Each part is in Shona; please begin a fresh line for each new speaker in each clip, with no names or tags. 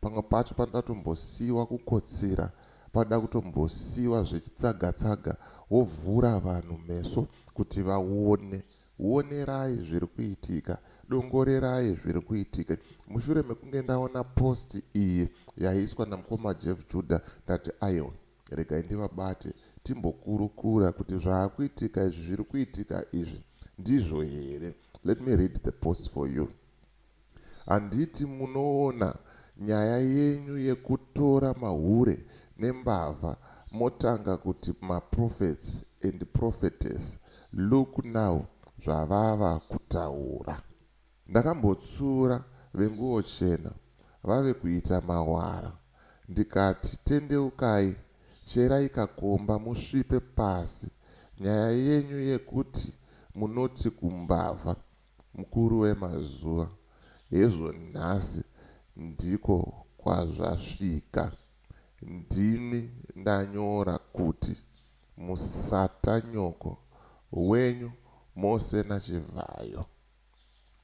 pamwe pacho panoda kutombosiiwa kukotsira panoda kutombosiiwa zvechitsaga tsaga wovhura vanhu meso kuti vaone wonerai zviri kuitika dongorerai zviri kuitika mushure mekunge ndaona post iyi yaiiswa namukoma jeff juda ndati aiwa regai ndivabate timbokurukura kuti zvaakuitika izvi zviri kuitika izvi ndizvo here let me read the post for you Handiti munoona nyaya yenyu yekutora mahure nembavha motanga kuti maprophets and prophetess look now zvavava kutaura. Ndakambotsura venguwo chena vave kuita mawara ndikati tendeukai cherai kakomba musvipe pasi nyaya yenyu yekuti munoti kumbavha Mukuru wemazuva, Hezvo nhasi ndiko kwazvasvika. Ndini ndanyora kuti musatanyoko wenyu mose naChivhayo.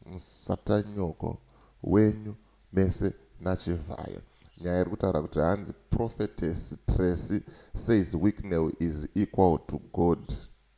Musatanyoko wenyu mese naChivhayo. Nyaya iri kutaura kuti hanzi Prophetess Tracy says Wicknell is equal to God.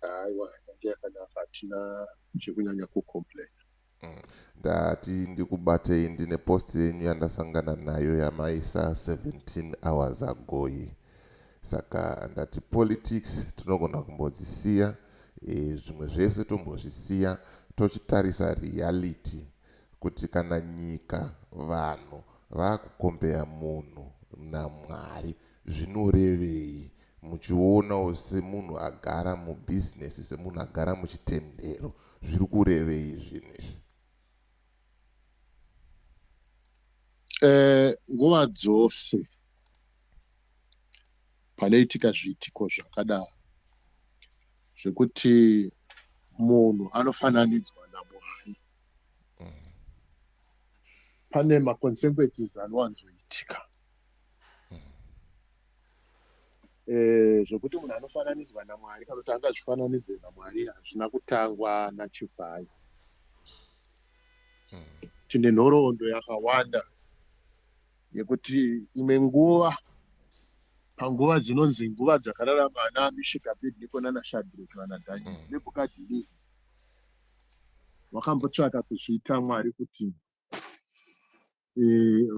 aiwa
yange yakanaka hatina zvekunyanya kucomplaina mm.
ndati ndikubatei ndine post yenyu yandasangana nayo yamaisa 17 hours agoyi saka ndati politics tinogona kumbodzisiya e, zvimwe zvese tombozvisiya tochitarisa reality kuti kana nyika vanhu vakukombeya munhu namwari Zvinorevei? Muchionawo semunhu agara mubusiness, semunhu agara muchitendero. Zviri kurevei zvinhu izvi?
Eh, nguva dzose panoitika zviitiko zvakadaro zvekuti munhu anofananidzwa namwari pane maconsequences anowanzoitika Eh, zvekuti munhu anofananidzwa namwari kana kuti angazvifananidze namwari hazvina kutangwa nachivhayi tine nhoroondo yakawanda yekuti imwe nguva panguva dzinonzi nguva dzakararama ana mishika bedniko nana shadrek vana daniel mm. nebukadhinizi wakambotsvaka kuzviita mwari kuti e,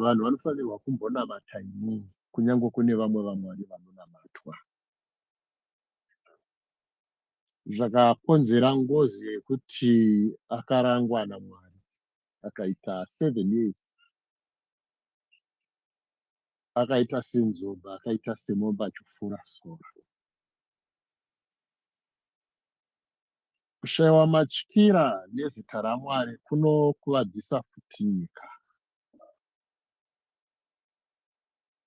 vanhu vanofanirwa kumbonamata inini kunyange kune vamwe vamwari vanonamatwa zvakakonzera ngozi yekuti akarangwa namwari akaita seven years akaita senzomba akaita semombe achifura sora Kushaiwa matyira nezita raMwari kunokuvadzisa futi nyika.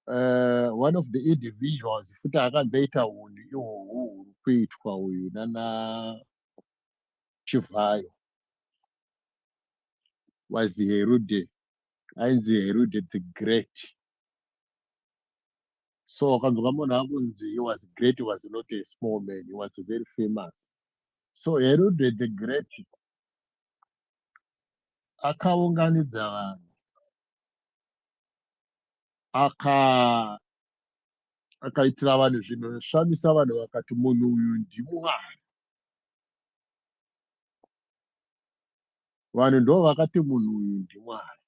Uh, one of the individuals futi akamboita hunhu ihwohwo huri kuitwa uyu nana Chivhayo was Herude ainzi Herude the Great so wakanzwa munhu akunzi he was great he was not a small man he was very famous so herode the great akaunganidza vanhu aka akaitira vanhu zvinhu zvoshamisa vanhu vakati munhu uyu ndimwari vanhu ndo vakati munhu uyu ndimwari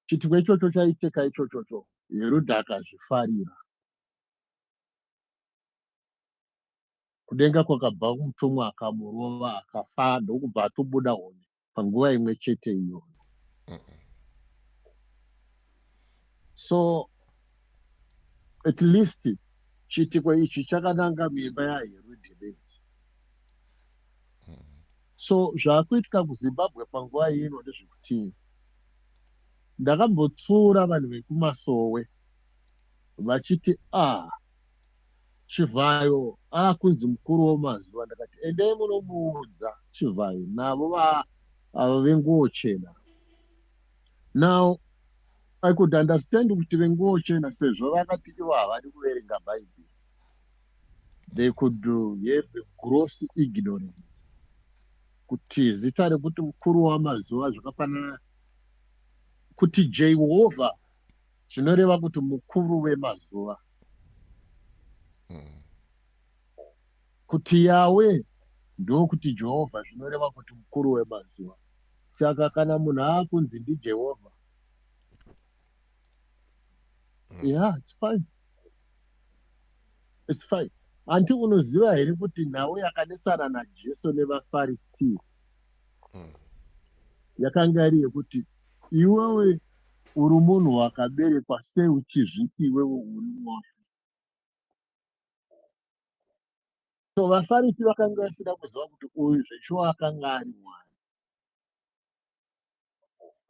chituko ichocho chaicheka ichochocho heruda akazvifarira kudenga kwakabva mutumwa akamurova akafa ndokubva atobuda hone panguva imwe chete iyoyo so at least chiitiko ichi chakananga mimba yaherudhebedzi So zvakuitika kuZimbabwe panguva ino ndezvekutii? Ndakambotsiura vanhu vekumasowe vachiti ah chivhayo akunzi ah, mukuru womazuva ndakati endei munomuudza chivhayo navo ava venguwo chena now i could understand kuti venguwo chena sezvo vakati ivo havadi kuverenga bhaibheri they could have a gross ignorance kuti zita rekuti mukuru wamazuva zvakafanana kuti jehovha zvinoreva kuti mukuru wemazuva kuti yawe ndokuti jehovha zvinoreva kuti mukuru wemazuva saka kana munhu akunzi ndijehovha yeah it's fine it's fine hanti unoziva here kuti nhau yakanesana najesu nevafarisii hmm. yakanga iri yekuti iwewe uri munhu wakaberekwa sei uchizviti iwewe uri mwoyo so vafarisi vakanga vasina kuziva kuti uyu zveshuwa akanga ari mwari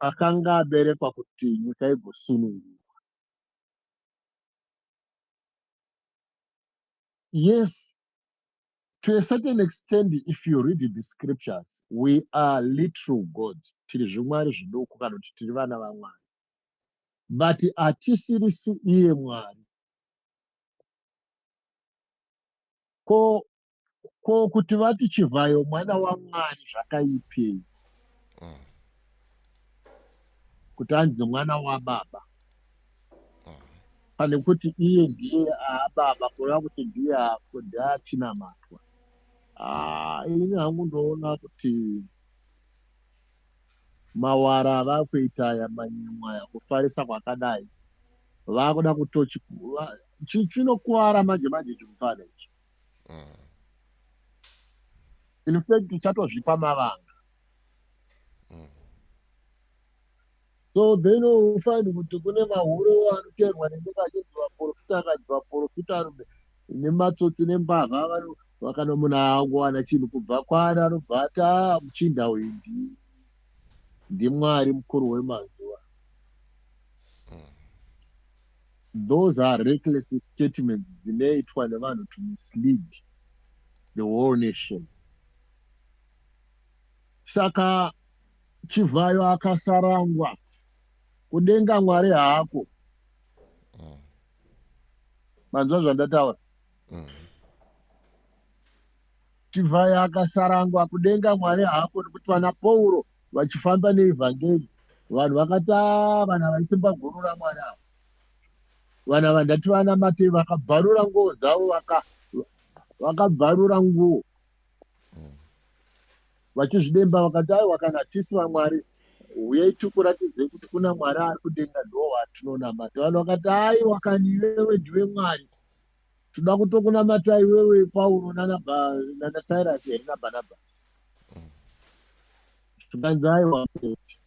akanga aberekwa kuti nyika igosunungurwa. Yes, to a certain extent, if you read the scriptures, we are literal gods. Tiri zvimwari zviduku kana kuti tiri vana vaMwari. But hatisirisi iye Mwari. Ko ko kuti vati chivhayo mwana wamwari zvakaipei mm. kuti anzi mwana wababa mm. pane kuti iye ndiye aababa kureva kuti ndiye ndiachinamatwa ah, ini hangu ndoona kuti mawara ava kuita aya manyimwa aya kufarisa kwakadai vakuda kutochi chinokuvara manje manje chimupana ichi mm. in fact uchatozvipa mavanga mm. so then ufaini kuti kune mahure anoteerwa nenge vachinzi vaprofita akanzi vaprofita arume nematsotsi nembavha vakano munhu awangowana chinhu kubva kwaari anobva ati a ah, muchinda uyu ndi ndimwari mukuru wemazuva those are reckless statements dzinoitwa nevanhu to mislead the whole nation saka chivhayo akasarangwa kudenga mwari hako mm. manzwa zvandataura mm. chivhayo akasarangwa kudenga mwari hako nekuti vana pauro vachifamba neevhangeri vanhu vakati ah, vana vaisimba guru ramwari ava vana vandati vana matei vakabvarura nguo dzavo vakabvarura nguo vachizvidemba vakati aiwa kana tisi vamwari uyai tikuratidze kuti kuna mwari ari kudenga ndoo watinonamata vanhu vakati aiwa kani iwewe ndiwe mwari tinoda kutokunamata iwewe pauro nanacyrus here nabarnabas zvikanzi aiwa kuti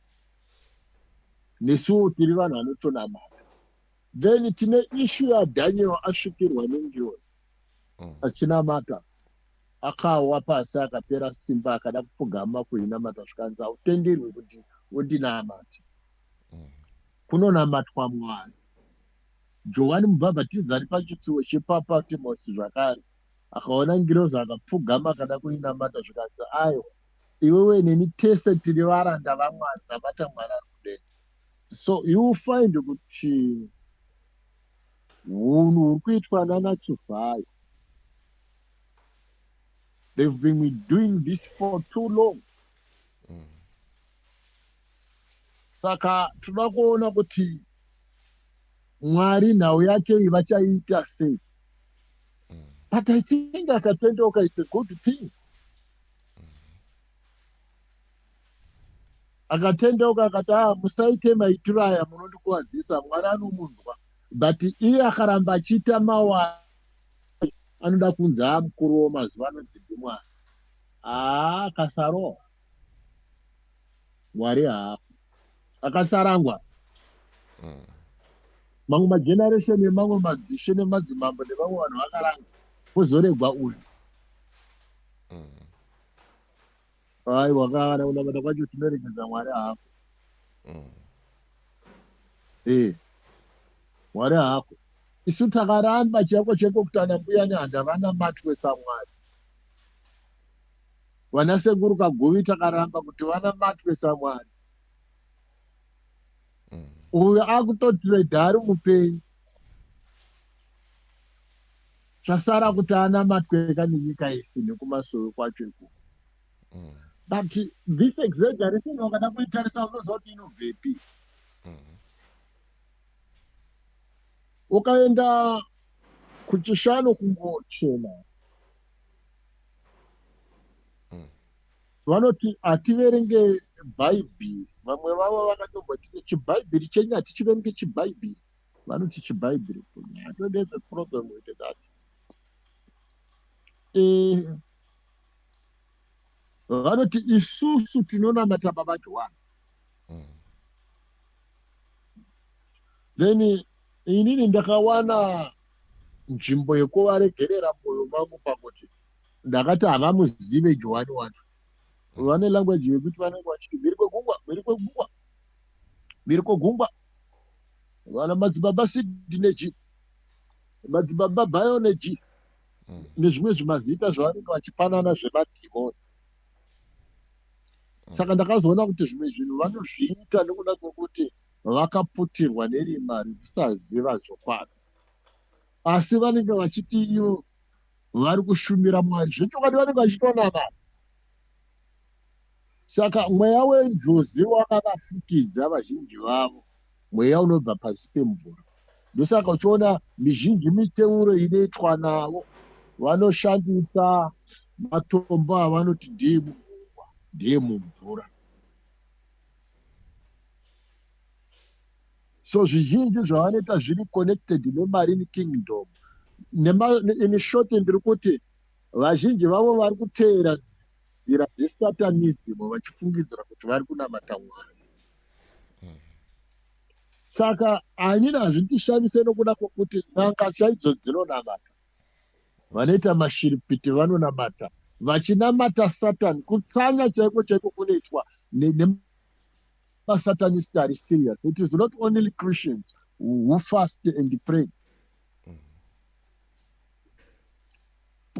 nesuwo tiri vanhu vanotonamata then tine ishu yadaniel asvikirwa nengioni mm. achinamata akawa pasi akapera simba akada kupfugama kuinamata zvikanzi hautenderwi kuti undinamati mm. kunonamatwa mwari Johani Mubhabhatidzi ari pachitsuwo chepaPatimosi zvakare, akaona ngirozi, akapfugama, akada kuinamata, zvikanzi, Aiwa, iwewe neni tese tiri varanda vaMwari, namata Mwari ari kudenga. So you find kuti hunhu huri kuitwa nana Chivhayo, they've been doing this for too long. saka tinoda kuona kuti mwari nhau yake iyi vachaiita sei but i think akatendeuka its a good thing akatendeuka akati a ah, musaite maitiro aya munondikuwadzisa mwari anomunzwa but iye akaramba achiita mawaa anoda kunzi amukuru wo mazuva ano dzimbi mwana haa ah, kasarohwa mwari haafi akasarangwa mm. mamwe mageneration nemamwe madzishe nemadzimambo nevamwe vanhu vakaranga vozoregwa uyu mm. hai wakavana kunamata kwacho tinoregeza mwari haafi mm. e mwari haafi isu takaramba chiyako cheko kutana mbuyani handavanamati wesamwari vana sekuru kaguvi takaramba kuti vanamatwe samwari mm. uyo akutotireda ari mupenyu zvasara kuti anamatwe ka nenyika yese nekumasowe kwacho iku mm. but this exaggeration wakada kuitarisa unoziva kuti inobvepi mm. ukaenda kuchishano kungochena mm. hmm. vanoti hativerenge bhaibheri vamwe vavo vakatomboti chibhaibheri chenyu hatichiverenge chibhaibheri vanoti chibhaibheri atodeze problem with that eh, vanoti isusu tinonamata baba johani hmm. then inini ndakawana nzvimbo yekuvaregerera moyo mangu pakuti ndakati havamuzive johani wacho vane language yekuti vanenge vachiti mhiri kwegungwa mhiri kwegungwa mhiri kwegungwa vana madzibaba sidi neji madzibaba bayo neji mm. nezvimwe zvimazita zvavanenge vachipanana zvemadhimoni mm. saka ndakazoona kuti zvimwe zvinhu vanozviita nekuda kwekuti vakaputirwa nerima rekusaziva zvokwadi asi vanenge vachiti ivo vari kushumira mwari zvechokwadi vanenge vachitonamata saka mweya wenjozi wakavafukidza vazhinji vavo mweya unobva pasi pemvura ndosaka uchiona mizhinji miteuro inoitwa navo vanoshandisa matombo avanoti ndeemugungwa ndeemumvura so zvizhinji zvavanoita zviri connected nemarine kingdom in short ndiri kuti vazhinji vavo vari kuteera nzira dzesatanism vachifungidzira kuti vari kunamata mwari saka anini hazvitishamise nokuda kwokuti n'anga chaidzo dzinonamata vanoita mashiripiti vanonamata vachinamata satani kutsanya chaiko chaiko kunoitwa masatanist ari serious it is not only christians who fast and pray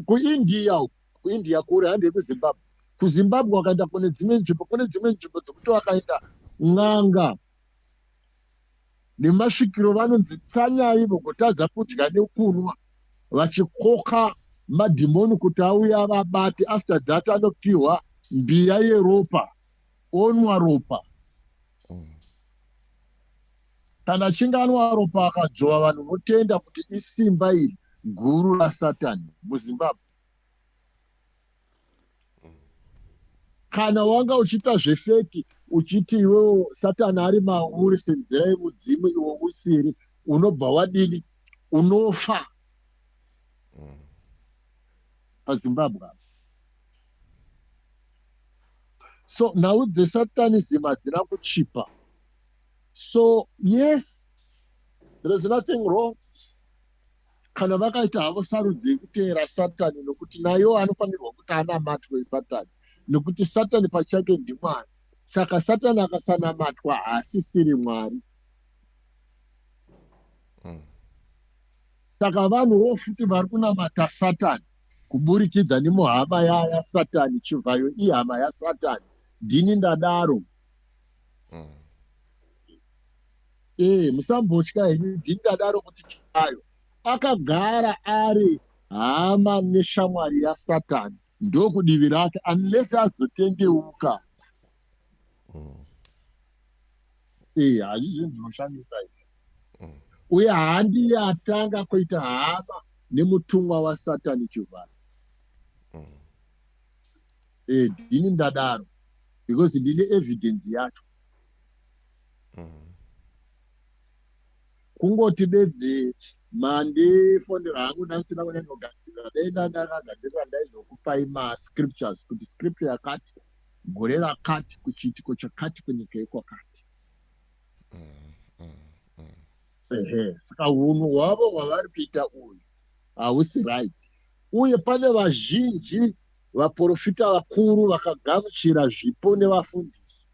kuindia uku kuindia kure hande kuzimbabwe kuzimbabwe wakaenda kune dzimwe nzvimbo kune dzimwe nzvimbo dzekuti wakaenda n'anga nemasvikiro vanonzi tsanyai vogotadza kudya nekunwa vachikoka madhimoni kuti auya vabati after that anopiwa mbiya yeropa onwa ropa mm. kana achinge anwa ropa akadzvova vanhu votenda kuti isimba iri guru rasatani muzimbabwe kana wanga uchiita zvefeki uchiti iwewo satani ari mauri senzira yemudzimu iwo usiri unobva wadini unofa mm. pazimbabwe apa so nhau dzesatanism hadzina kuchipa so yes there is nothing wrong kana vakaita havo sarudzo yekuteera satani nokuti nayo anofanirwa kuti anamatwe satani nokuti satani pachake ndimwari saka satani akasanamatwa haasisiri mwari hmm. saka vanhuwo futi vari kunamata satani kuburikidza nemuhama yaya yasatani chivhayo ihama yasatani ndini ndadaro mm. e eh, musambotya henyu ndini ndadaro kuti chivhayo akagara ari hama neshamwari yasatani ndokudivi rake unless azotendeuka iya hazvi zvinhu zvinoshamisa izvi mm. uye handiye atanga kuita hama nemutumwa wasatani chivhara mm. e ndini ndadaro because ndine evidence yacho mm. kungoti bedzi mandifonera hangu ndandisina kunyanyogadzirira dai ndandakagadzirira ndaizokupai mascriptures kuti scripture yakati gore rakati kuchiitiko chakati kunyika yekwakati ehe saka hunhu hwavo hwavari kuita uyu hausi right uye pane vazhinji vaprofita vakuru vakagamuchira zvipo nevafundisi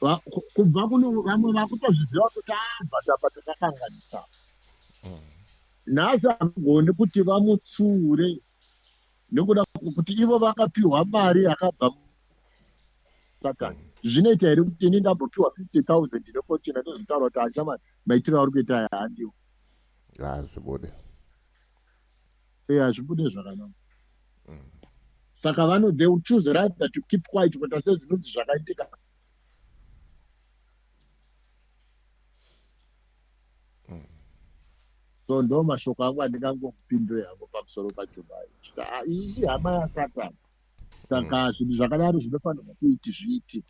Va- ku- kubva kune vamwe vakutozviziva kuti abhatapa takakanganisa nhasi havagoni kuti vamutsiure nekuda kuti ivo vakapiwa mari yakabva satani zvinoita here kuti ini ndambopiwa 50000 nefortune anozvitaura kuti achama maitiro auri kuita aya handiwo hazvibude e hazvibude zvakanaka mm. saka vano they will choose rather to keep quiet kuita sezvinonzi zvakaitika so ndo mashoko angu andingangokupindure hangu pamusoro pachobai kuti ah, iyi hama yasatani saka mm. zvinhu zvakadaro zvinofanirwa kuiti zviiti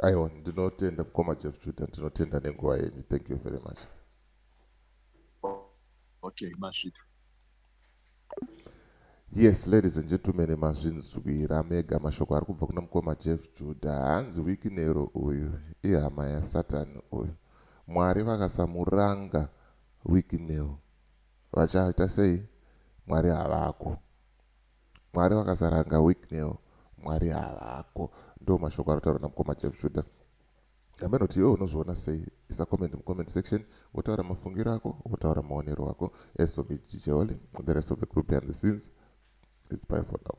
aiwa
ndinotenda mukoma jeff juda ndinotenda nenguva yenyu thank you very much
okay masvita
Yes, ladies and gentlemen, mazvinzwira mega mashoko ari kubva kuna mukoma Jeff Judah. Hanzi wikinero uyu ihama yaSatani uyu. Mwari vakasamuranga wikinero vachaita sei? Mwari havako. Mwari vakasaranga wikinero, Mwari havako. Ndo mashoko anotaura namukoma Jeff Judah. Nyama inoti iwe unozviona sei? Isa comment mucomment section wotaura mafungiro ako wotaura maonero ako as for me Jijeoli the rest of the group behind the scenes it's bye for now.